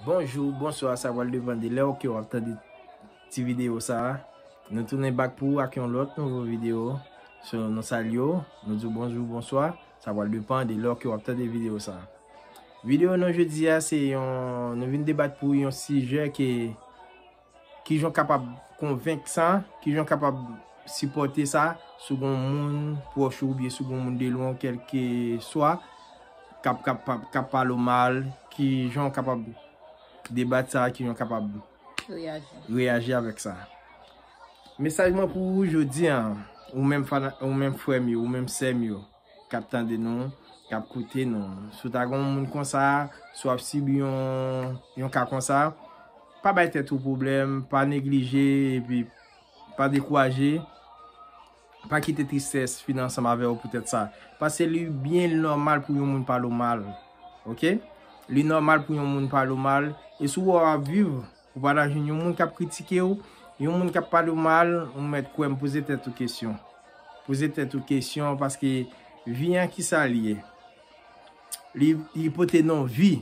Bonjou, bonswa sa pral depan de lèw ke wap tande ti video sa Nou tounen bak pou ou ak yon lòt nouvo video So nou salye w, nou diw bonjou, bonswa Sa pral depan de lèw ke wap tande video sa Video nou jodi a se yon, nou vin debat pou yon sijè ke Kijan w kapab konvenk sa? Kijan w kapab sipòte sa si gen yon moun pwòch ou oubyen si gen yon moun de lwen w kèlkeswa k ap pale w mal? Kijan w kapab debat sa? Kijan w kapab reyaji avèk sa? Mesaj mwen pou ou jodi a, ou menm frè m yo, ou menm sè m yo. kap tande nou, kap koute nou. Si w ta gen yon moun konsa, si w ap sibi yon ka konsa, pa bay tèt ou pwoblèm, pa neglije, epi pa dekouraje, pa kite tristès fini ansanm avè w pou tèt sa. Pase li byen nòmal pou yon moun pale w mal. Ok? Li nòmal pou yon moun pale w mal, e si w wè w ap viv, Ou pa ta jwenn yon moun k ap kritike w, yon moun k ap pale w mal, ou mèt kwè m poze tèt ou kesyon. Poze tèt ou kesyon paske vi an ki sa l ye? Li pote non vi.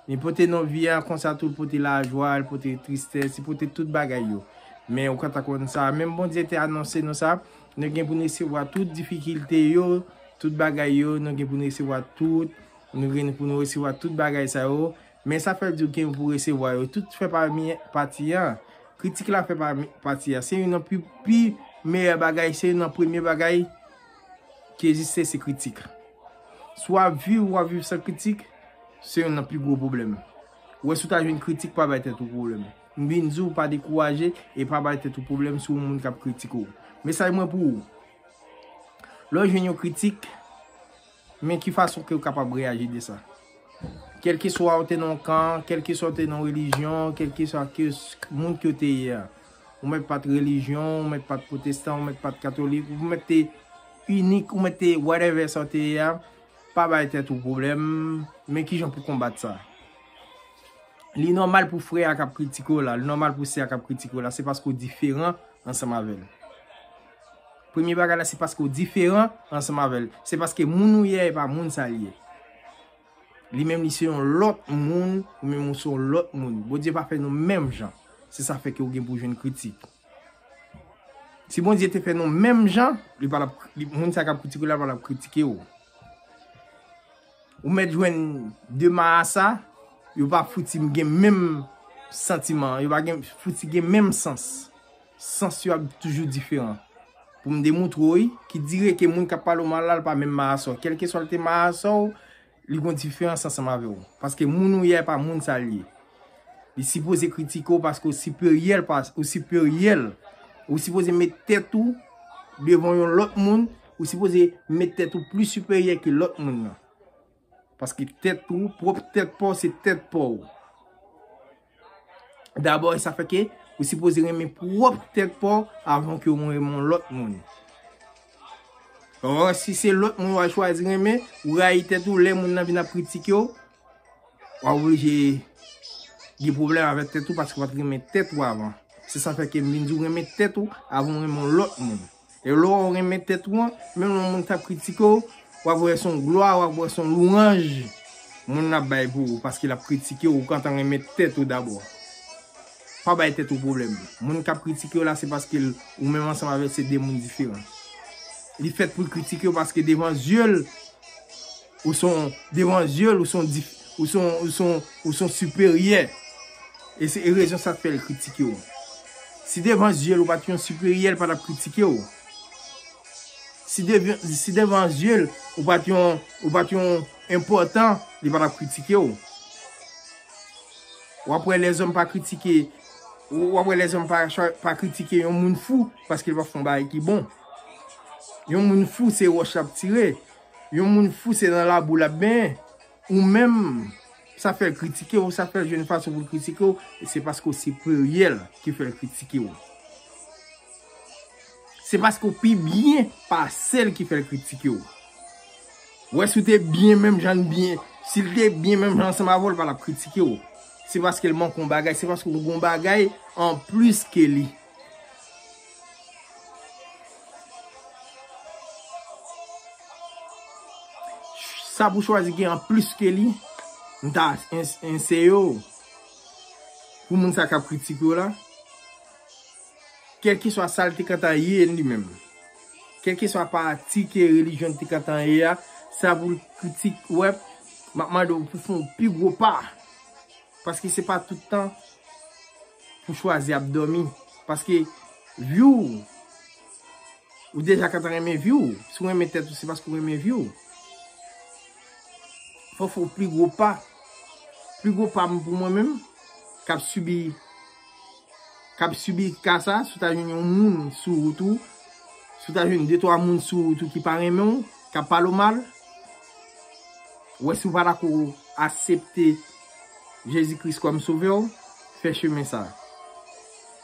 Li pote non vi an konsa tou l pote lajwa, l pote tristès, li pote tout bagay yo. Men ou pa ta konn sa. Menm Bondye te anonse nou sa, nou gen pou n resevwa tout difikilte yo, tout bagay yo, nou gen pou n resevwa tout, nou gen pou n resevwa tout bagay sa yo. Men sa fè diw gen pou resevwa yo tout fè pami pati an. Kritik la fè pami pati an. Se youn nan pi meyè bagay, se youn nan premye bagay ki egziste se kritik. Si w ap viv, w ap viv san kritik, se youn nan pi gwo pwoblèm. Ou wè si w ta jwenn kritik pa bay tèt ou pwoblèm. M vin di w pa dekouraje e pa bay tèt ou pwoblèm si w moun k ap kritike w. Mesaj mwen pou ou, lè w jwenn yon kritik. Men ki fason ke ou kapab reyaji de sa. Kèlkeswa ou te nan yon kan, kèlkeswa ou te nan yon relijyon, kèlkeswa ke moun ke ou te ye a. Ou mèt pa t relijyon, ou mèt pa t pwotestan, ou mèt pa t katolik, ou mèt te inik, ou mèt te whatever sa ou te ye a, pa bay tèt ou pwoblèm, men kijan pou konbat sa. Li nòmal pou frè a k ap kritike w la, li nòmal pou sè a k ap kritike w la, se paske ou diferan ansanm avè l. Premye bagay la se paske ou diferan ansanm avè l. Se paske moun ou ye a e pa moun sa l ye. Li menm li se yon lòt moun, ou menm ou se yon lòt moun. Bondye pa fè nou menm jan. Se sa fè ke ou gen pou jwenn kritik. Si Bondye te fè nou menm jan, li pa tap, moun sa k ap kritike w la pa tap kritike w. Ou mèt jwenn de marasa, yo pa fouti gen menm santiman, yo pa gen fouti gen menm sans. Sans yo ap toujou diferan. Pou m demoutre w wi, ki dire ke moun k ap pale w mal la, l pa menm marasa w. Kèlkeswa l te marasa w, li gon diferans ansanm avè w. Paske moun ou ye a e pa moun sa l ye. Li sipoze kritike w paske w siperyè l pase, ou siperyè l. Ou sipoze met tèt ou devan yon lòt moun, ou sipoze met tèt ou plis siperyè ke lòt moun nan. Paske tèt ou, pwòp tèt pa w se tèt pa w. Dabò e sa fè ke ou sipoze renmen pwòp tèt pa w avan ke ou renmen yon lòt moun. Or, si se lòt moun ou al chwazi renmen, ou rayi tèt ou lè moun nan vin ap kritike w, w ap oblije gen pwoblèm avèk tèt ou paske w pa t renmen tèt ou avan. Se sa fè ke m vin di w renmen tèt ou avan w renmen yon lòt moun. E lè w renmen tèt ou an, menm lè yon moun ta kritike w, w ap wè se yon glwa, w ap wè se yon lwanj moun nan ap bay pou ou paske l ap kritike w, ou gentan renmen tèt ou dabò. Pa bay tèt ou pwoblèm. Moun k ap kritike w la se paske ou menm ansanm avè l se de moun diferan. Li fèt pou l kritike w paske devan zye l, Ou son devan zye l ou son dif ou son ou son ou son siperyè e se e rezon sa k fè l kritike w si devan zye l ou pa t yon siperyè l pa t ap kritike w si devyon si devan zye l ou pa t yon ou pa t yon enpòtan li pa t ap kritike w w ap wè lèzòm pa kritike w ap wè lèzòm pa chwa pa kritike yon moun fou paske l pa fè yon bagay ki bon yon moun fou se wòch l ap tire Yon moun fou se nan labou lap benyen. Ou menm sa fèl kritike w, sa fèl jwenn fason pou l kritike w, se paske w siperyè l ki fèl kritike w. Se paske w pi byen pase l ki fèl kritike w. Ou wè si w te byen menm jan l byen, si l te byen menm jan ansanm avè w l pa tap kritike w. Se paske l manke yon bagay, se paske w gen yon bagay anplis ke li. Sa pou chwazi gen an plis ke li, m ta enseye w, pou moun sa k ap kritike w la, kèlkeswa sa l te gentan ye li menm, kèlkeswa pati ke relijyon li te gentan ye a, sa pou l kritike w, m ap mande w pou fè yon pi gwo pa. Paske se pa tout tan pou chwazi ap domi. Paske vyou ou. Ou deja kata renmen vyou ou. Si ou renmen tèt ou se paske ou renmen vyou ou. Fò fò pli gwo pa. Pli gwo pa m pou mwen menm. Kap subi. Kap subi kasa. Sou ta joun yon moun sou ou tou. Sou ta joun 2-3 moun sou ou tou ki pa renmen ou. Kap pale ou mal. Wè si ou pa ta kou asepte. Jezi Kris kòm sovè w, fè chemen sa.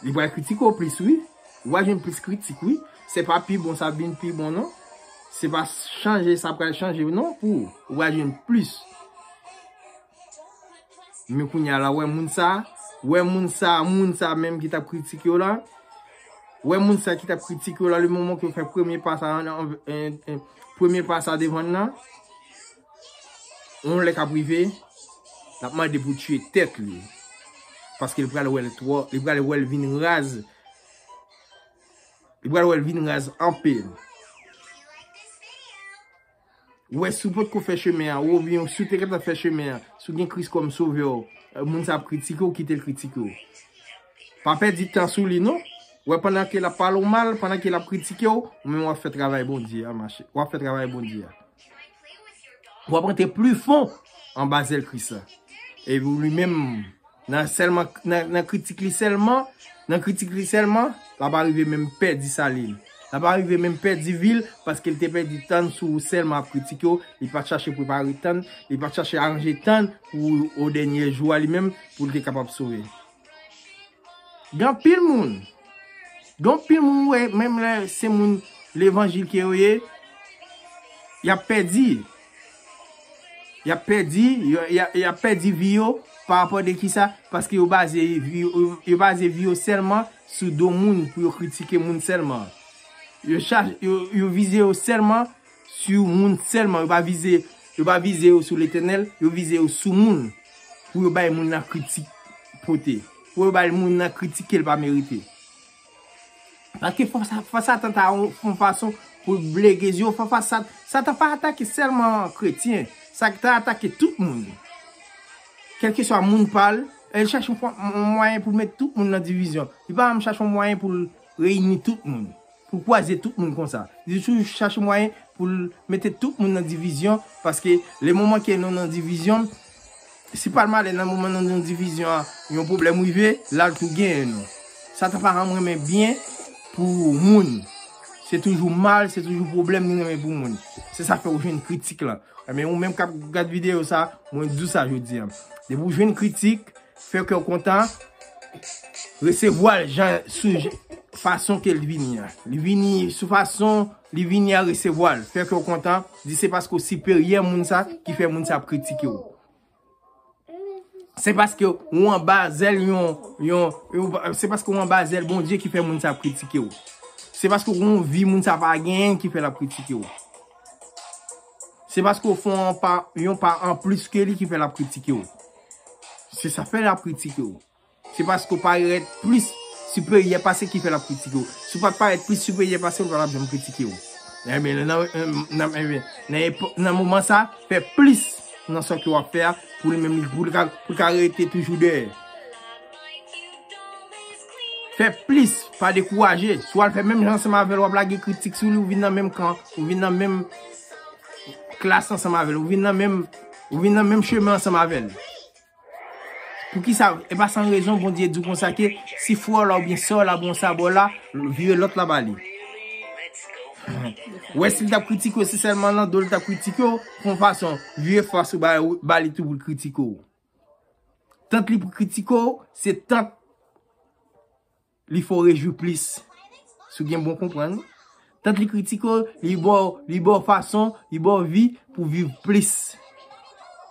Li pral kritike w plis wi, ou pral jwenn plis kritik wi, se pa pi bon sa vin pi bon non, se pa chanje sa pral chanje w non pou ou, ou pral jwenn plis. Men kounya la wè moun sa, wè moun sa, moun sa menm ki tap kritike w la, wè moun sa ki tap kritike w la le moman ke w fè premye pa sa, premye pa sa devan nan. Yon lè kap rive lap mande pou tiye tèt li paske li pral wèl twò li pral wèl vin raz li pral wèl vin raz anpil wè si w potko fè chemen an ou oubyen si w te gentan fè chemen an si w gen Kris kòm sovè w moun sa ap kritike w kite l kritike w pa pèdi tan sou li non wè pandan ke lap pale w mal pandan ke lap kritike w ou menm wap fè travay Bondye a mache wap fè travay Bondye a. Ou ap rete pli fon an ba zèl Kris la. E ou li menm nan selman nan kritik li selman, nan kritik li selman, la pa rive menm pèdi sali li. La pa rive menm pèdi vi li paske li te pèdi tan li sou ou selman ap kritik yo, li pa chache prepare tan li, li pa chache aranje tan li pou o dènye jou a li menm pou li te kapab sove. Gen anpil moun, gen anpil moun ou wè menm lè se moun levanjil ke yo ye, y ap pèdi. Y ap pèdi, y ap pèdi vi yo pa rapò de ki sa, paske yo baze vi yo, yo baze vi yo sèlman sou do moun pou yo kritike moun sèlman. Yo vize yo sèlman Sou moun sèlman, yo pa vize yo pa vize yo sou Letènèl, yo vize yo sou moun pou yo bay moun nan kritik pote, pou yo bay moun nan kritik ke l pa merite. Paske fwa sa, fwa Satan ta yon fon fason pou l blege zye w, fwa fwa sa, Satan pa atake sèlman kretyen, Satan atake tout moun. Kèlkeswa moun pa l, e l chache yon mwayen pou l met tout moun nan divizyon. Li pa janm chache yon mwayen pou l reyini tout moun. Pou kwaze tout moun konsa. Li toujou chache mwayen pou l mete tout moun nan divizyon paske le moman ke nou nan divizyon, si pa l malè nan moman nou nan divizyon an yon pwoblèm rive, l al tou genyen nou. Satan pa janm renmen byen pou moun. Se toujou mal, se toujou pwoblèm li renmen pou moun. Se sa k fè ou jwenn kritik lan. Enben ou menm k ap gad videyo sa, mwen di w sa jodi an. Depi ou jwenn kritik, Fè kè w kontan, resevwa l jan sou fason ke l vini an. Li vini sou fason li vini an resevwa l. Fè kè w kontan, di se paske w siperyè moun sa ki fè moun sa ap kritike w. Se paske w anba zèl yon, yon, se paske w anba zèl Bondye ki fè moun sa ap kritike w. Se paske w gen yon vi moun sa pa genyen ki fè l ap kritike w. Se paske w fè yon pa, yon pa anplis ke li ki fè l ap kritike w. Se sa fè l ap kritike w. Se paske w parèt plis siperyè pase ki fè l ap kritike w. Si w pa t parèt plis siperyè pase l pa t ap janm kritike w. Enben, nan moman sa, fè plis nan sa ke w ap fè a pou li menm pou l ka rete toujou dèyè. Fè plis, pa dekouraje. Si w al fè menm jan ansanm avè l, w ap lage kritik sou li, ou vin nan menm kan, ou vin nan menm klas ansanm avè l, ou vin nan menm Ou vin nan menm chemen ansanm avè l. Poukisa, e pa san rezon Bondye di w konsa ke si frè w la oubyen sè w la pran sa ba w la, vire lòt la ba li. Ou wè si l t ap kritike w, se sèlman nan do l t ap kritike w, pran fason, vire fas ou ba li tou pou l kritike w. Tant li pou kritike w, se tant Li fè w rejwi plis. Si w gen bon konprann. Tant li kritike w, li ba w, li ba w fason, li ba w vi pou w viv plis.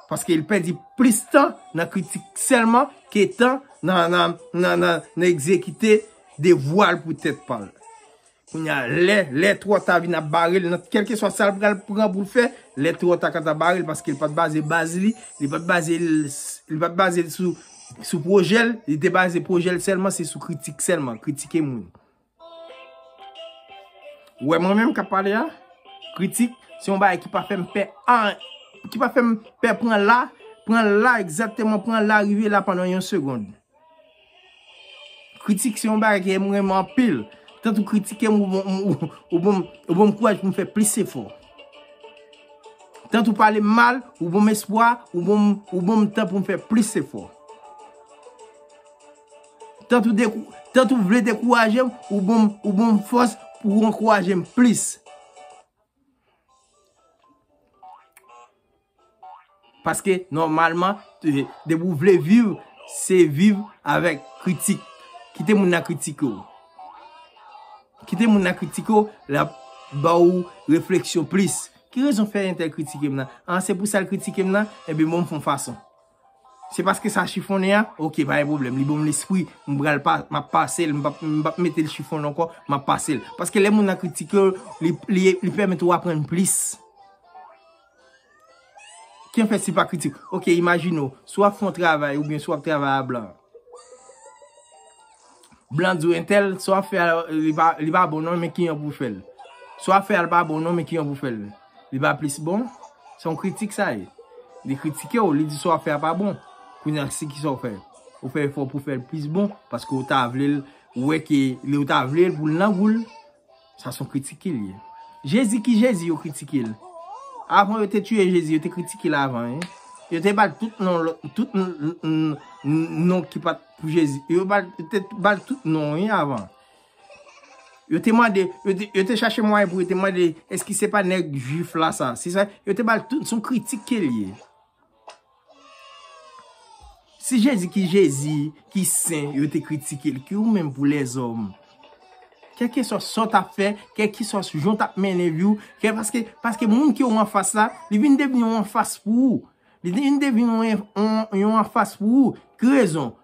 Paske li pèdi plis tan nan kritik sèlman ke tan nan egzekite devwa l pou tèt pa l. Kounye a lè lè twò ta vin ap bare l nan kèlkeswa sa l pral pran pou l fè lè twò ta ka ta bare l paske l pa t baze baz li li pa t baze l li pa t baze l sou sou pwojè l li te baze pwojè l sèlman se sou kritik sèlman kritike moun ou wè mwen menm k ap pale a kritik se yon bagay ki pa fè m pè an ki pa fè m pè pran la pran la egzatteman pran la rive la pandan yon segond. Kritik se yon bagay ke m renmen anpil. Tank ou kritike m, ou banm kouraj pou m fè plis efò. Tank ou pale m mal, ou banm espwa, ou banm tan pou m fè plis efò. Tank ou vle dekouraje m, ou banm fòs pou ankouraje m plis. Paske nòmalman depi ou vle viv se viv avèk kritik. Kite moun nan kritike w. Kite moun nan kritike w l ap ba ou refleksyon plis. Ki rezon fè entèl kritike m nan? A se pou sa l kritike m nan? Enben bon m fè yon fason. Se paske sa chifonnen a? Ok, pa gen pwoblèm. Li ban m lespri. M pral pa, m ap pase l. M pap mete l chifonnen ankò. M ap pase l. Paske lè moun nan kritike w, li pèmèt ou aprann plis. Kiyè fè si l pa kritike w? Ok, imajine w, si w ap fè yon travay oubyen si w ap travay a blan. Blan di w entèl, sa w ap fè a li pa bon non, men ki jan pou w fè l. Sa w ap fè a li pa bon non, men ki jan pou w fè l. Li pa plis bon? Se yon kritik sa ye. Li kritike w, li di sa w ap fè a pa bon. Kounye a se ki sa w fè? Ou fè efò pou w fè l plis bon, paske ou ta vle l, ou wè ke li ou ta vle l pou l nan gou l. Sa son kritike li ye. Jezi ki jezi yo kritike l. Avan yo te tiye jezi yo te kritike l avan wi. Yo te bal tout non lot tout non ki pat pou jezi. Yo te bal tout non wi avan. Yo te mande yo te chache mwayen pou yo te mande eske se pa neg jwif la sa. Yo te bal tout son kritike li ye. Si Jezi ki Jezi, ki sen, yo te kritike l, ki ou menm pou lèzòm? Kèlkeswa sa w t ap fè, kèlkeswa jan w t ap mennen vi w, paske moun ke w anfas la, li vin devni yon anfas pou ou. Li vin devni yon anfas pou ou. Ki rezon?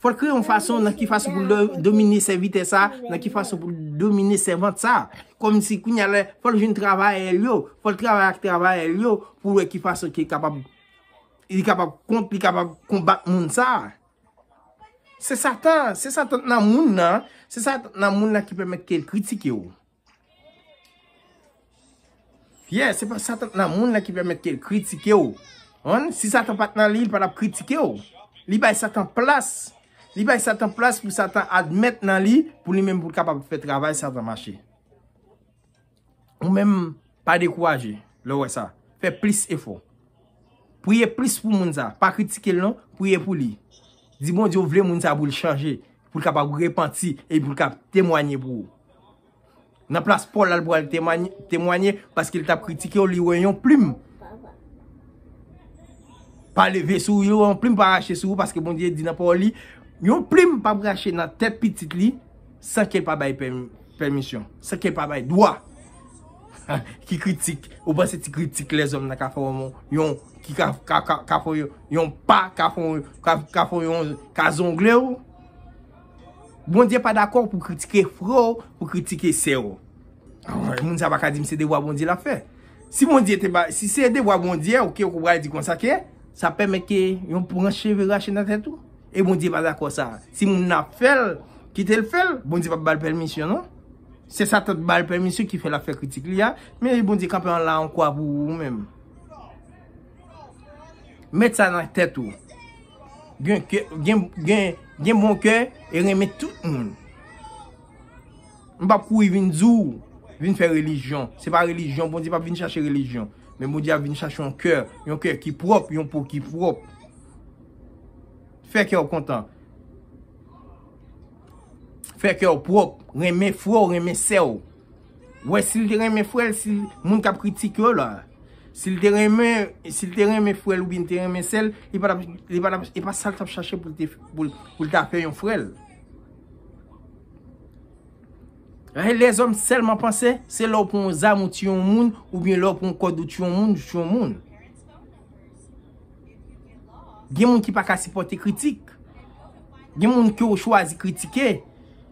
Fò l kreye yon fason nan ki fason pou l domine sèvitè sa a, nan ki fason pou l domine sèvant sa a. Kòmsi kounye a lè fò l jwenn travayè l yo, fò l travay ak travayè l yo pou l wè ki fason ki kapab li kapab kont, li kapab konbat moun sa a. Se satan, se satan nan moun nan, se satan nan moun nan ki pèmèt ke l kritike ou. Yeah, se pa satan nan moun la ki pèmèt ke l kritike w. An, si satan pat nan li, li pa tap kritike w. Li bay satan plas. Li bay satan plas pou satan admèt nan li, pou li menm pou l kapab fè travay satan mache. Ou menm, pa dekouraje, lè w wè sa. Fè plis efò. Priye plis pou moun sa. Pa kritike l non, priye pou li. Di Bondye ou vle moun sa pou l chanje. Pou l kapab repanti e pou l kab temwanye pou ou. Nan plas Pòl la, l pral temwanye paske l t ap kritike yo, li wè yon plim pa leve sou ou, li wè yon plim pa rache sou ou paske Bondye di nan Pawòl li, yon plim pap rache nan tèt pitit li san ke l pa bay pèmisyon, san ke l pa bay dwa. Ki kritik? Ou panse ti kritik lèzòm nan ka fè yon moun? ki ka fè yon pa, ka fè yon ka zongle ou. Bondye pa dakò pou kritike frè ou, pou kritike sè ou. Moun sa pa ka di m se devwa Bondye l ap fè. Si Bondye te ba, si se devwa Bondye ou ke ou pral di konsa ke, sa pèmèt ke yon branch cheve rache nan tèt ou. E Bondye pa dakò sa. Si moun nan ap fè l, kite l fè l, Bondye pa ba l pèmisyon non. Se satan t ba l pèmisyon ki fè l ap fè kritik li a, men Bondye kanpe an la an kwa pou ou menm. Met sa nan tèt ou. Gen bon kè e renmen tout moun. M pap kouri vin di w vin fè relijyon. Se pa relijyon. Bondye pap vin chache relijyon. Men Bondye ap vin chache yon kè. Yon kè ki pwòp. Yon po ki pwòp. Fè kè w kontan. Fè kè w pwòp. Renmen frè w. Renmen sè w. Wè sil te renmen frèl si moun kap kritik yo la sil te renmen sil te renmen frèl ou byen te renmen sèl li pa tap li pa tap epa sal tap chache poul te poul ta fè yon frèl Rahel lèzòm sèlman panse se lè ou pran yon zam ou tiye yon moun ou byen lè ou pran yon kòd ou tiye yon moun ou tiye yon moun. Gen moun ki pa ka sipote kritik. Gen moun ki ou chwazi kritike.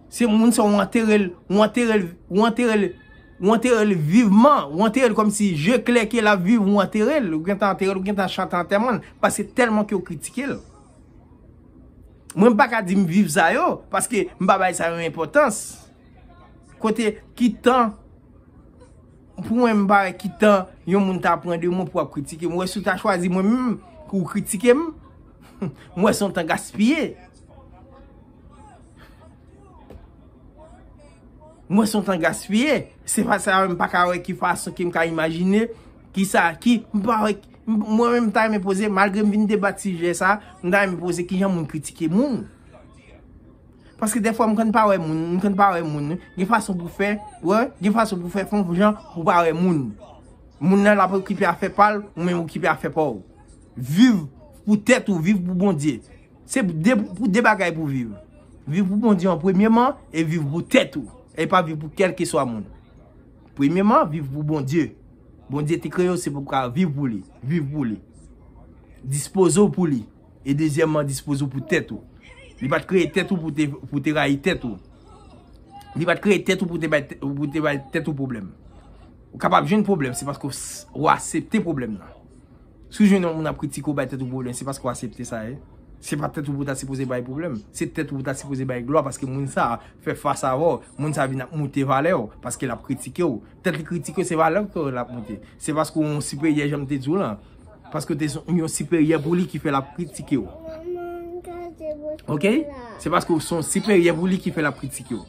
Se moun sa ou anterel, ou anterel, ou anterel, ou anterel viveman. Ou anterel kom si je kle ke la vive ou anterel. Ou gen tan anterel, ou gen tan chante anteman. Pase telman ki ou kritike. Mwen pa ka di m vive sa yo. Paske m pa bay sa yo enpotans. Kote ki tan. Pou mwen m pa wè ki tan yon moun ta pran de mwen pou ap kritike m. Ou wè si w ta chwazi mwen menm pou w kritike m, m wè se yon tan gaspiye. M wè se yon tan gaspiye. Se pa sa m pa ka wè ki fason ke m ka imajine ki sa ki m pa wè ki. Mwen menm m ta renmen poze malgre m vin debat sijè sa, m ta renmen poze kijan moun kritike moun. Paske defwa m konn pa wè moun, m konn pa wè moun. Gen fason pou fè, wè, gen fason pou fè fon jan pou pa wè moun. Moun nan la pou okipe afè pa l, ou menm okipe afè pa w. Viv pou tèt ou, viv pou Bondye. Se pou de bagay pou viv. Viv pou Bondye an premyeman, e viv pou tèt ou. E pa viv pou kelke swa moun. Premyeman, viv pou Bondye. Bondye te kreye w se pou ka viv pou li. Viv pou li. Dispoze w pou li. E dezyèmman, dispoze w pou tèt ou. Li pa t kreye tèt ou pou w te rayi tèt ou. Li pa t kreye tèt ou pou w te bay tèt ou pwoblèm. Ou kapab jwenn pwoblèm, se paske w asepte pwoblèm nan. Si w jwenn yon moun ap kritike w, bay tèt ou pwoblèm, se paske w asepte sa ye. Se pa tèt ou pou w ta sipoze bay pwoblèm. Se tèt ou pou w ta sipoze bay glwa paske moun sa a fè fas avè w. Moun sa a vin ap moute valè w paske l ap kritike w. Tèt li kritike w, se valè w ke l ap moute. Se paske w yon siperyè jan m te di w lan. Paske ou te yon siperyè pou li ki fè l ap kritike ou. Ok? Se paske ou son siperyè pou li ki fè l ap kritike ou.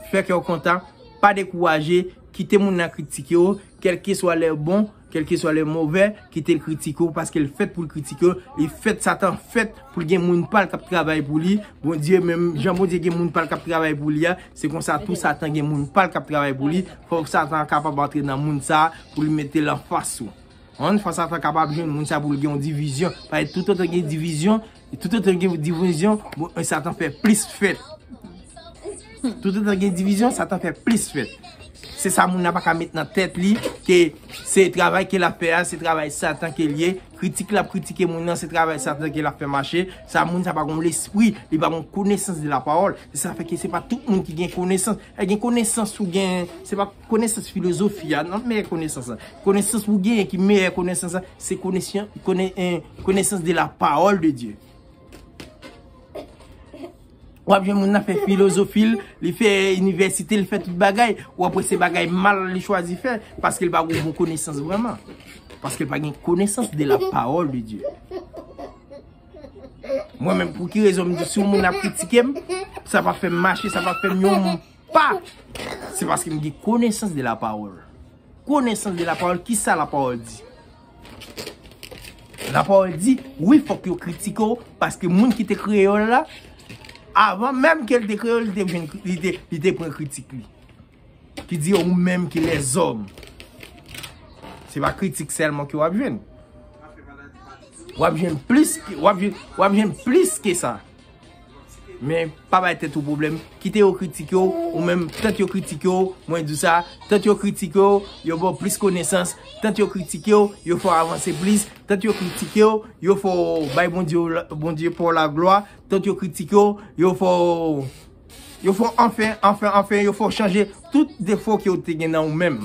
Fè kè ou kontan, pa dekouraje, kite moun nan kritike ou, kelke swa lè bon, kelke swa lè movè, kite l kritike ou, paske l fèt pou l kritike ou, li fèt satan fèt pou l gen moun pa l k ap travay pou li, Bondye menm, jan Bondye gen moun pa l k ap travay pou li a, se konsa tou satan gen moun pa l k ap travay pou li, fòk satan kapab antre nan moun sa a pou l mete l anfas ou. Yon fas a fas kapab jwenn moun sa pou l gen yon divizyon. Paske toutotan gen divizyon, toutotan gen divizyon, satan fè plis fèt. Toutotan gen divizyon, satan fè plis fèt. Se sa moun nan pa ka met nan tèt li, ke se travay ke l ap fè a, se travay satan ke l ye. Kritik l ap kritike moun nan, se travay satan ke l ap fè mache. Sa moun sa pa gen yon lespri, li pa gen yon konesans de la pawòl. Se sa fè ke se pa tout moun ki gen konesans. Lè gen konesans ou gen, se pa. Konesans filozofi a nan meyè konesans la. Konesans pou genyen ki meyè konesans la, se konesans de la pawòl de Diyo. Ou ap jwenn moun nan fè filozofi l, li fè inivèsite, li fè tout bagay, ou ap wè se bagay mal li chwazi fè, paske l pa gen bon konesans vreman. Paske l pa gen konesans de la pawòl de Diyo. Mwen men pou ki rezon m di sou moun ap kritike m, sa pa fè m mache, sa pa fè m yon moun. Pa! Se paske m gen konesans de la pawòl. Konesans de la pawòl, ki sa la pawòl di? La pawòl di, wi fòk yo kritike w, paske moun ki te kreye yo la, avan menm ke l te kreye yo, li te vin, li te, li te pran kritik li. Ki di yo, ou menm ki lèzòm. Se pa kritik sèlman ke w ap jwenn. W ap jwenn plis, w ap jwenn, w ap jwenn plis ke sa. Men, pa bay tèt ou pwoblèm, kite yo kritike w, ou menm, tant yo kritike w, mwen di w sa, tant yo kritike w, yo ba w plis konesans, tant yo kritike w, yo fè w avanse plis, tant yo kritike w, yo fè w bay Bondye pa w laglwa, tant yo kritike w, yo fè w, yo fè w anfen, anfen, anfen, yo fè w chanje tout defo ke w te gen nan ou menm.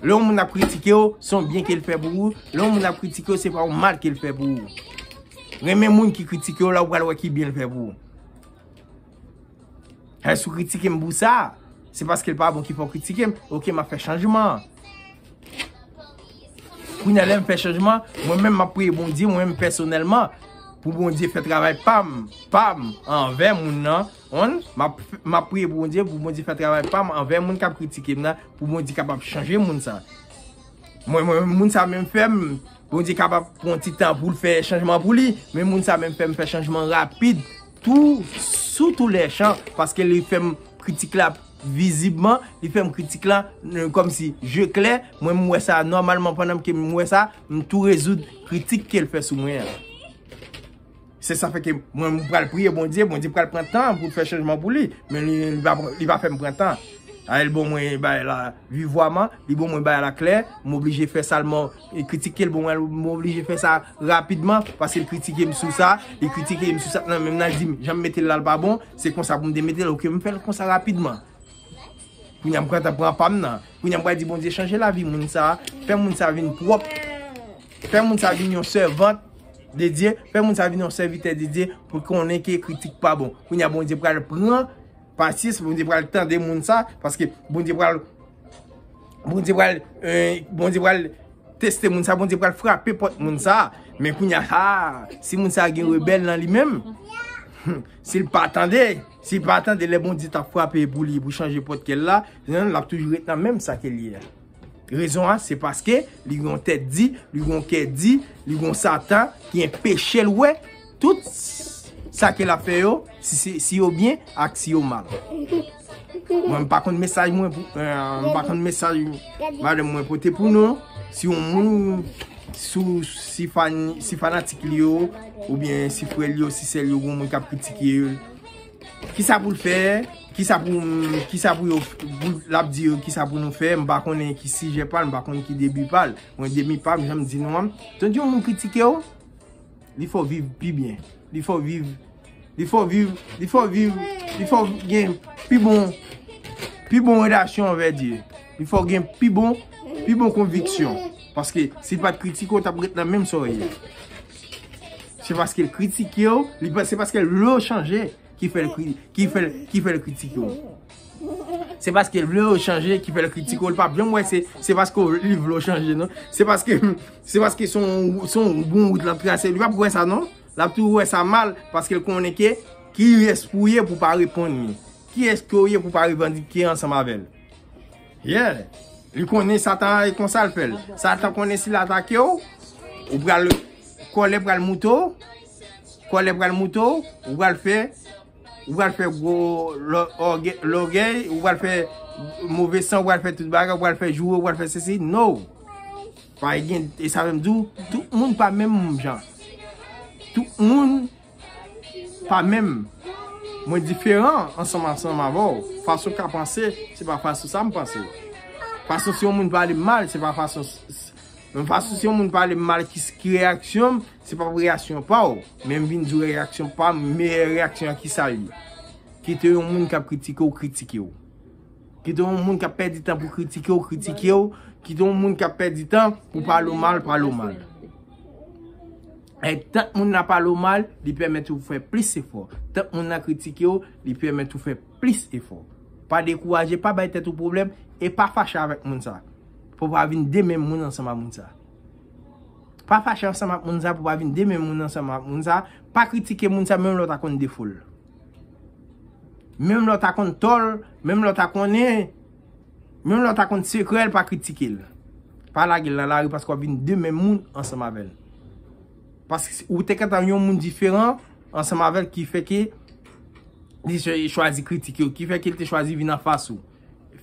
Lè yon moun ap kritike w, se yon byen ke l fè pou ou. Lè yon moun ap kritike w, se pa yon mal ke l fè pou ou. Renmen moun ki kritike w la, ou pral wè ki byen l fè pou ou. Hey, si w kritike m pou sa, se paske l pa bon ki fè w kritike m. Ok, m ap fè chanjman. Kounya lè m fè chanjman, mwen menm m ap priye Bondye, mwen menm pèsonèlman, pou Bondye fè travay pa m, pa m, anvè moun nan, One map priye pou bondye pou bondye fè travay pam anvè moun kap kritike m nan pou bondye kapab chanje moun sa mwen mwen moun sa menm fèm bondye kapab pran ti tan poul fè chanjman pou li men moun sa menm fèm fè chanjman rapid tou sou tou lè chan paske li fèm kritik la vizibman li fèm kritik la kòm si je klè mwen m wè sa nòmalman pandan m ke m wè sa m tou rezoud kritik kel fè sou mwen an. Se sa fè ke mwen m pral priye Bondye, Bondye pral pran tan pou l fè chanjman pou li, men li va fè m pran tan. A li bon mwen bay la vi vwa man, li bon mwen bay la klè, m oblije fè sa l mò, li kritike l bon mwen m oblije fè sa rapidman, paske l kritike m sou sa, li kritike m sou sa, nan men m nan di m, jan m mete l la l pa bon, se konsa pou m te mete l, ok m fè l konsa rapidman. Kounye a m pran tan pran pa m nan, kounye a m pral di Bondye chanje lavi moun sa, fè moun sa vin pwòp. Fè moun sa vin yon sèvant de Dye, fè moun sa vin yon sèvitè de Dye pou konnen ke kritik pa bon. Kounye a Bondye pral pran pasyans, Bondye pral tande moun sa, paske Bondye pral, Bondye pral, Bondye pral teste moun sa, Bondye pral frape pòt moun sa. Men kounye a, ha, si moun sa gen rebèl nan li menm, si l pa tande, si l pa tande lè Bondye ta frape pou li, pou chanje pòt kè l la, l ap toujou ret nan menm sa ke l ye a. Rezon an se paske li gen yon tèt di, li gen yon kè di, li gen yon satan ki enpeche l wè tout sa ke l ap fè yo, si yo byen ak si yo mal. Mwen m pa konn mesaj mwen pou, m pa konn mesaj madanm mwen pote pou nou, si yon moun, si fanatik li yo, oubyen si frè li yo, si sè li yo, yon moun k ap kritike yo, Kisa pou l fè, kisa pou kisa pou yo l ap di yo kisa pou nou fè, m pa konnen ki sijè pa l, m pa konnen ki debi pa l. Mwen debi pa m jan m di nou an, tank yon moun kritike w, li fè w viv pi byen. Li fè w viv, li fè w viv, li fè w viv, li fè w gen pi bon, pi bon relasyon anvè Dye. Li fè w gen pi bon, pi bon konviksyon. Paske si l pa t kritike w, w t ap ret nan menm sa w ye. Se paske l kritike w, se paske l vle w chanje ki fè l kritike w. Se paske l vle w chanje ki fè l kritike w. L pa bjom wè se paske li vle w chanje non. Se paske son bon wout l ap trase. Li pa pou wè sa non. L ap tou wè sa mal paske l konnen ke ki res pou w ye pou w pa reponn li. Ki res ke w ye pou w pa revandike ansanm avè l. Yeah! Li konnen Satan an e konsa l fè l. Satan konnen si l atake w, ou pral, kòlè pral moute w, kòlè pral moute w, ou pral fè, ou pral fè gwo lògèy, ou pral fè move san, ou pral fè tout bagay, ou pral fè joure, ou pral fè sesi. No! Pa gen, e sa fè m di w, tout moun pa menm jan. Tout moun. pa menm mwen diferan ansanm ansanm avèw fason ka panse se pa fason sam panse fason si yon moun pale mal se pa fason menm fason si yon moun pale mal ki reyaksyonm se pa reyasyon paw menm vin di reyasyon pam meyè reyaksyon ki sa li kite yon moun kap kritike w kritike w kite yon moun kap pèdi tan pou kritike w kritike w kite yon moun kap pèdi tan pou pale w mal pale w mal. Et tant moun nan pale w mal, li pèmèt ou fè plis efò. Tant moun nan kritike w, li pèmèt ou fè plis efò. Pa dekouraje, pa bay tèt ou pwoblèm, e pa fache avèk moun sa. Pou w pa vin de menm moun ansanm ak moun sa. Pa fache ansanm ak moun sa pou w pa vin de menm moun ansanm ak moun sa. Pa kritike moun sa menm lè w ta konn defo l. Menm lè w ta konn tò l, menm lè w ta konnen. Menm lè w ta konn sekrè l pa kritike l. Pa lage l nan lari paske w ap vin de menm moun ansanm avè l. Paske ou te gentan yon moun diferan ansanm avè l ki fè ke li te chwazi kritike w. Ki fè ke li te chwazi vin anfas ou.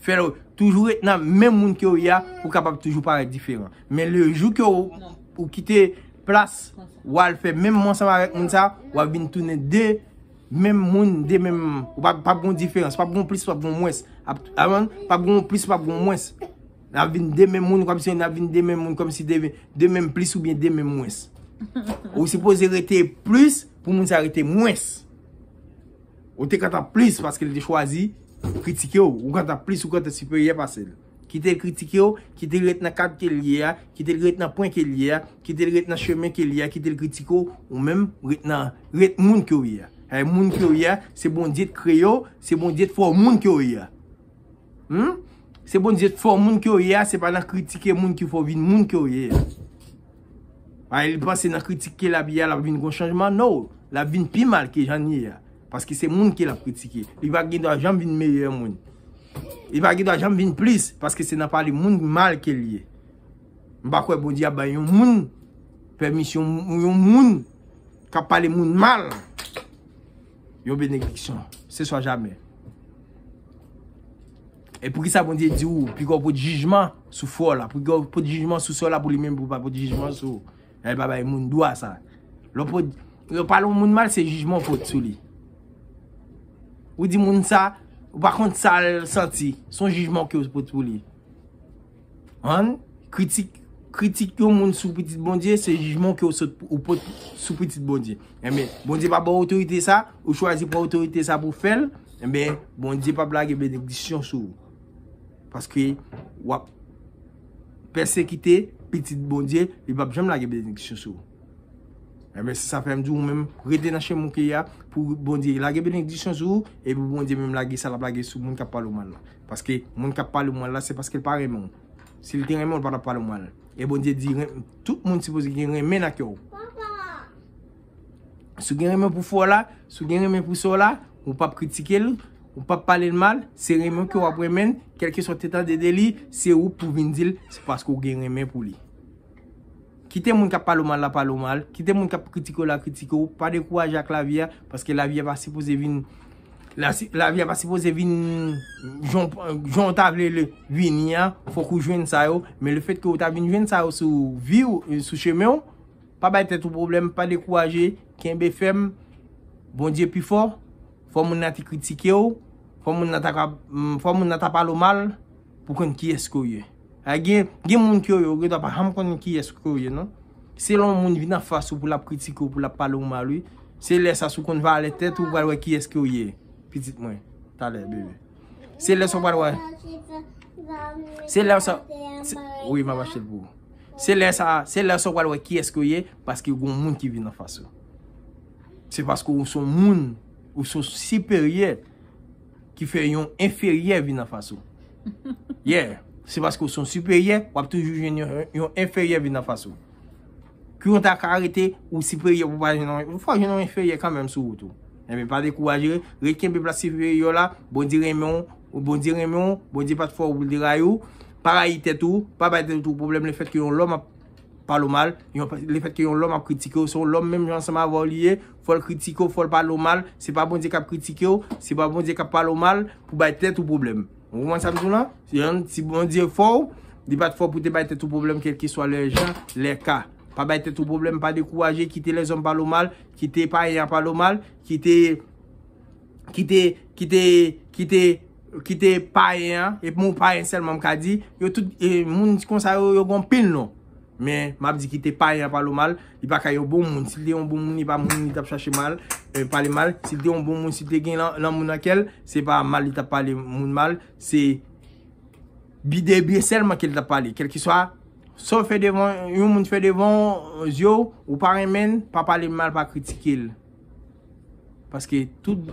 Fè l toujou ret nan menm moun ke w ye a pou kapab toujou parèt diferan. Men le jou ke ou kite plas w al fè menm moun ansanm avèk moun sa, w ap vin tounen de Menm moun de menm ou pa pap gon diferans, pap gon plis, pap gon mwens. Avan, pap gon plis, pap gon mwens. Na vin de menm moun, kòm si na vin de menm moun, kòm si de menm plis ou byen de menm mwens. Ou se pose rete plis pou moun sa rete mwens. Ou te kata plis paske li te chwazi kritike ou. Ou kata plis, ou kata siperyè pase li. Kite l kritike w, kite l ret nan kad ke l ye a, kite l ret nan pwen ke l ye a, kite l ret nan chemen ke l ye a, kite l kritike w, ou menm, ret nan, ret moun ke w ye a. Sa vle di moun ke w ye a, se Bondye t kreye w, se Bondye t fè w moun ke w ye a. Humm! Se Bondye t fè w moun ke w ye a, se pa nan kritike moun ki fè w vin moun ke w ye a. Paske li panse nan kritike l ap ye a, l ap vin gon chanjman, no! L ap vin pi mal ke jan l ye a. Paske se moun ke lap kritike. Li pa gen dwa janm vin meyè moun. Li pa gen dwa janm vin plis. Paske se nan pale moun mal ke li ye. M pa kwe Bondye ap bay yon moun permisyon moun yon moun kap pale moun mal. Yon benediksyon. Se swa jamè. E pou ki sa bon diye di ou, pi gwa ou pot jijman sou fwa ou la, pou ki gwa ou pot jijman sou swa ou la pou li menm pou pa pot jijman sou ou. Lè l pa bay moun dwa sa. Lè w pale yon moun mal se jijman w pot sou li. Ou di moun sa, ou pa konn sa l santi. Se yon jijman ke w pot sou li. An, kritik, kritik yon moun sou pitit Bondye se jijman ke w pot sou pitit Bondye. Enben, Bondye pa ba w otorite sa, ou chwazi pran otorite sa pou fè l, enben, Bondye pap lage benediksyon sou ou. Paske, wap. Pèsekite pitit Bondye, li pap janm lage benediksyon sou ou. Enben se sa fè m di ou menm rete nan chemen ou te ye a pou Bondye lage benediksyon sou ou e pou Bondye menm lage sa l ap lage sou moun k ap pale w mal la. Paske moun k ap pale w mal la se paske l pa renmen w. Si l te renmen w, l pa t ap pale w mal. E Bondye di tout moun sipoze gen renmen nan kè w. Si w gen renmen pou fè w la, si w gen renmen pou sa w la, ou pap kritike l, ou pap pale l mal, se renmen w ke w ap renmen l, kèlkeswa w te tande de li, se ou pou vin di l, se paske w gen renmen pou li. Kite moun k ap pale w mal la pale w mal, kite moun k ap kritike w la kritike w, pa dekouraje ak lavi a, paske lavi a pa sipoze vin, lavi a pa sipoze vin jan w ta vle l vini an, fòk ou jwenn sa yo, men le fèt ke ou ta vin jwenn sa yo sou vi w, sou chemen w, Pa bay tèt ou pwoblèm, pa dekouraje, kenbe fèm, Bondye pi fò, fò moun nan te kritike w, fò moun nan ta pale w mal, pou konn kiyès ke w ye. Gen moun ke yo gen dwa pa janm konnen kiyès ke w ye non. Se lè yon moun vin an fas ou pou l ap kritike w, pou l ap pale w mal wi. Se lè sa si w konn valè tèt ou, ou pral wè kiyès ke w ye, pitit mwen. Talè bebe. Se lè sa w pral wè. Se lè sa. Wi m ap achte l pou ou. Se lè sa. Se lè sa w pral wè ki eske w ye. Paske yon moun ki vin an fas ou. Se paske ou son moun. Ou son siperyè. Ki fè yon enferyè vin an fas ou. Yeah. Se paske ou son siperyè. Wap toujou jwenn yon enferyè vin an fas ou. Kou yon ta ka arete ou siperyè pou pa jwenn yon enfè, fò jwenn yon enfèryè kanmenm sou wout ou. Enben pa dekouraje ret, ret kenbe plas siperyè w la, Bondye renmen w, Bondye renmen w, Bondye pa t fè w pou l te rayi w, pa rayi tèt ou, pa bay tèt ou pwoblèm lefèt ke yon lòm ap pale w mal, lefèt ke yon lòm ap kritike w, se yon lòm menm jan ansanm avè w li ye, fò l kritike w, fò l pale w mal, se pa Bondye k ap kritike w, se pa Bondye k ap pale w mal pou bay tèt ou pwoblèm. Ou konprann sa m di w la? Si Bondye fò w, li pa t fò w pou te bay tèt ou pwoblèm kèlkeswa lè jan, lè ka. Pa bay tèt ou pwoblèm, pa dekouraje, kite lèzòm pale w mal, kite payen an pale w mal, kite, kite, kite, kite, kite payen an, e pou m payen sèlman m ka di, yo tout, moun konsa yo, yo gen anpil non. Men, m ap di kite payen an pale w mal, li pa ka yon bon moun. Si l te yon bon moun, li pa moun li t ap chache mal, pale mal. Si l te yon bon moun, si l te gen lanmou nan kè l, se pa mal li t ap pale moun mal, se bi de byen sèlman ke l t ap pale. Kèlkeswa, sa w fè devan, yon moun fè devan zye w, ou pa renmen l, pa pale l mal, pa kritike l. Paske tout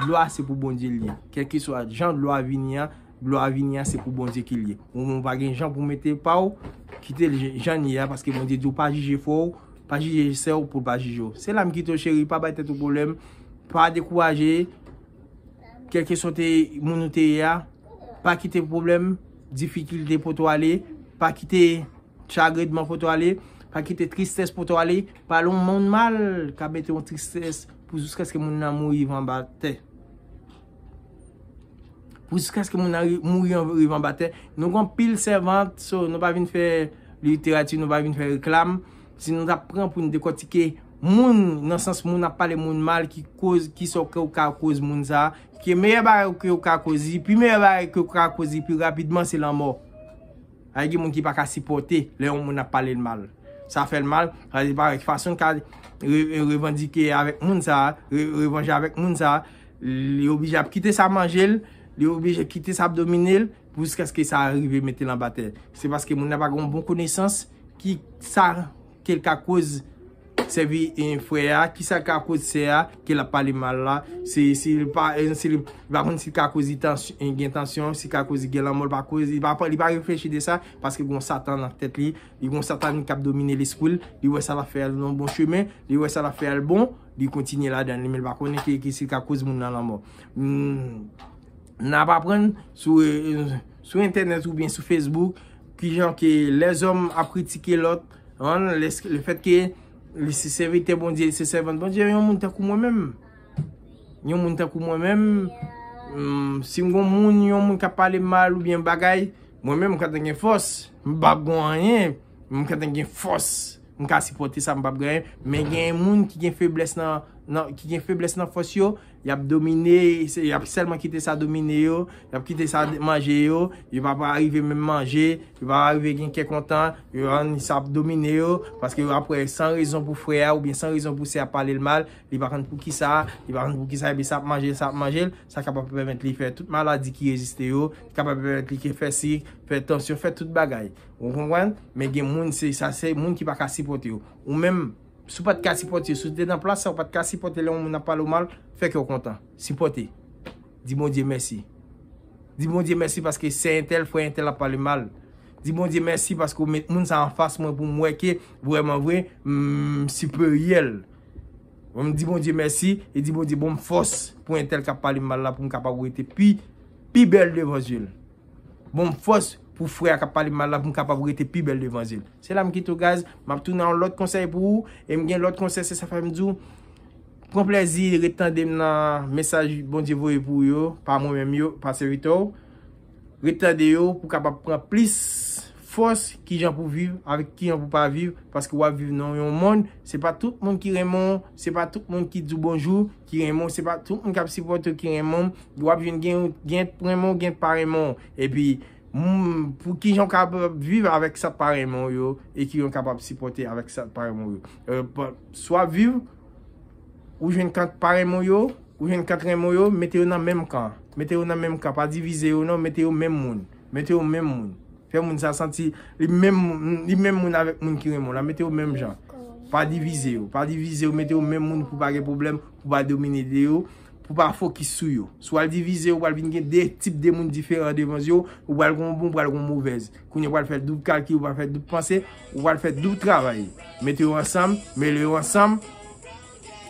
glwa se pou Bondye li ye. Kèlke swa jan glwa vini a, glwa vini a se pou Bondye ki li ye. Ou menm ou pa gen jan pou mete pa ou, kite l jan li ye a paske Bondye di ou pa jije frè ou, pa jije sè ou pou l pa jije ou. Se la m kite w cheri, pa bay tèt ou pwoblèm, pa dekouraje, kèlke swa te moun ou te ye a, pa kite pwoblèm, difikilte pote w ale, pa kite. Chagrin dman foto ale, pa kite tristès pote w ale, pale yon moun mal ka mete yon tristès pou jiskaske moun nan mouri rive anba tè. Pou jiskaske moun nan mouri rive anba tè, nou gon pil sèvant, so nou pa vin fè literati, nou pa vin fè reklam, si nou ta pran pou nou dekòtike moun nan sans moun ap pale moun mal ki koz, ki sa ke ou ka koz moun sa, ki meyè bagay ke ou ka koz li, pi meyè bagay ke ou ka koz li pi rapidman se lanmò. Ay gen moun ki pa ka sipòte lè yon moun ap pale l mal. Sa fè l mal, sa li parèt fason l ka revandike avèk moun sa, revanje avèk moun sa, li oblije ap kite sa manje l, li oblije kite sa ap domine l pou jiskaske sa rive mete l anba tè. Se paske moun nan pa gen yon bon konesans ki sa Kel ka koz sèvi frè a, kisa ka koz sè a ke lap pale mal la, se si li pa konn si li ka koz li gen tansyon, si li ka koz li gen lanmò, li pa reflechi de sa, paske gon satan nan tèt li, li gon satanik kap domine lespri l, li wè sa lap fè a se yon bon chemen, li wè sa lap fè a l bon, li kontinye ladan li men li pa konnen si li ka koz moun nan lanmò. Nap aprann sou. sou entènèt oubyen sou Facebook, ki jan ke lèzòm ap kritike lòt, an, le fèt ke li se sèvitè Bondye, li se sèvant Bondye, yon moun tankou mwen menm, yon moun tankou mwen menm, si m gon moun, yon moun kap pale m mal oubyen bagay, mwen menm m ka te gen fòs, m pa p gon anyen, m ka te gen fòs, m ka sipòte sa m pa p gen anyen, men gen moun ki gen feblès nan, ki gen feblès nan fòs yo. Yap domine, yap selman kite sa domine yo, yap kite sa manje yo, yo pa pa rive menm manje, yo pa pa rive gen kè kontan, yo an sa ap domine yo, paske yo ap wè san rezon pou frè a ou byen san rezon pou sè a pale l mal, li pa konn pou ki sa, li pa konn pou ki sa, epi sa ap manje l, sa ap manje l, sa kapab pèmèt li fè tout maladi ki reziste yo, sa kapab pèmèt li ke fè sik, fè tansyon, fè tout bagay. Ou konprann? Men gen moun se sa se moun ki pa ka sipote yo. Ou menm. Si w pa t ka sipòte yo, si w te nan plas sa, ou pa t ka sipòte lè yon moun ap pale w mal, fè kè w kontan. Sipòte. Di Bondye mèsi. Di Bondye mèsi paske sè entèl, frè entèl ap pale m mal. Di Bondye mèsi paske ou met moun sa a anfas mwen pou m wè ke vrèman vre, m siperyè l. Ou di Bondye mèsi e di Bondye ban m fòs pou entèl k ap pale m mal la pou m kapab rete pi bèl devan zye l. Bonm fòs pou frè a kap pale mal la poum kapab rete pi bèl devan zyel. Se la m kite w guys, map tounen ak yon lòt konsèy pou ou e m gen lòt konsèy se sa fèm di w pran plèzi ret tande m nan mesaj Bondye voye pou ou yo, pa mwen menm yo, pa sèvitè w. Ret tande yo pou kapab pran plis fòs kijan pou viv avèk kijan pou pa viv paske wap viv nan yon mond se pa tout moun ki renmen w, se pa tout moun ki di w bonjou. Ki renmen w se pa tout moun kap sipòte w ki renmen w, epi wap jwenn gen yon gen t renmen w gen t pa renmen w, epi pou kijan w kapab viv avèk sa pa renmen w yo e kijan w kapab sipòte avèk sa pa renmen w yo, swa viv ou jwenn kan t pa renmen w yo, ou jwenn kan t renmen w yo, mete yo nan menm kan, mete yo nan menm kan pa divize yo non, mete yo menm moun, mete yo menm moun. Fè moun sa santi li menm li menm moun avèk moun ki renmen w la. Mete yo menm jan. Pa divize yo. Pa divize yo. Mete yo menm moun pou pa gen pwoblèm, pou pa domine de yo, pou pa fokis sou yo. Si w al divize yo, pral vin gen 2 tip de moun diferan devan zye w. Ou pral gen yon bon, ou pral gen yon movèz. Kounye ou pral fè doub kalkil, ou pral fè doub panse, ou pral fè doub travay. Mete yo ansanm, mele yo ansanm.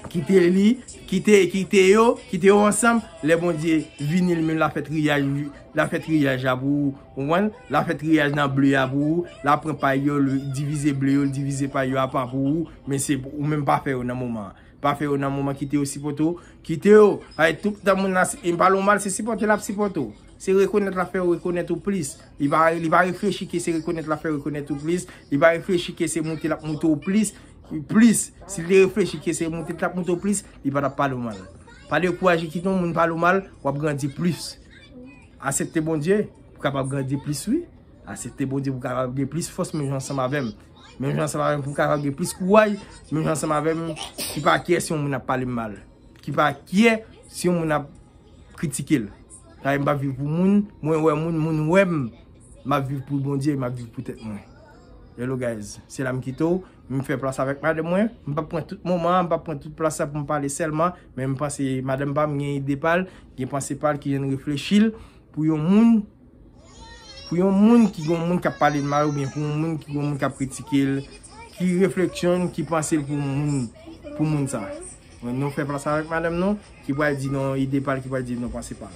Kite li, kite, kite yo, kite yo ansanm, lè Bondye vini li menm la fè triyaj li, la fè triyaj la pou ou, konprann, la fè triyaj nan ble a pou ou, la pran pay yo, li divize ble yo, li divize pay yo apa pou ou, men se pou ou menm pa fè yo nan moman an, pa fè yo nan moman kite yo sipòte ou, kite yo, paske tout tan moun nan, e m pale w mal se sipòte lap sipòte ou, se rekonèt lap fè rekonèt ou plis, li pa, li pa reflechi ke se rekonèt lap fè rekonèt ou plis, li pa reflechi ke se moute lap moute ou plis. Ou plis, si li te reflechi ke se moute li tap moute ou plis, li pa tap pale ou mal. Pa dekouraje kite yon moun pale ou mal, wap grandi plis. Asepte Bondye pou kapab grandi plis wi. Asepte Bondye pou kapab gen plis fòs menm jan ansanm avèm. Menm jan ansanm avèm pou kapab gen plis kouray, menm jan ansanm avèm ki pa kye si yon moun ap pale mal. Ki pa kye si yon moun ap kritike l. Kay m pa viv pou moun, mwen wè moun, moun wè m. M ap viv pou Bondye, m ap viv pou tèt mwen. Hello guys, se la m kite w. M fè plas avèk madanm mwen. M pap pran tout moman an, m pap pran tout plas sa pou m pale sèlman. Men m panse madanm pa m gen ide pa l, gen panse pa l ki jan l reflechi l pou yon moun. Pou yon moun ki gen yon moun k ap pale l mal oubyen pou yon moun ki gen yon moun k ap kritike l. Ki refleksyon l, ki panse l pou moun sa. Nou fè fas avèk madanm nou ki pral di nou yon ide pa l, ki pral di nou yon panse pa l.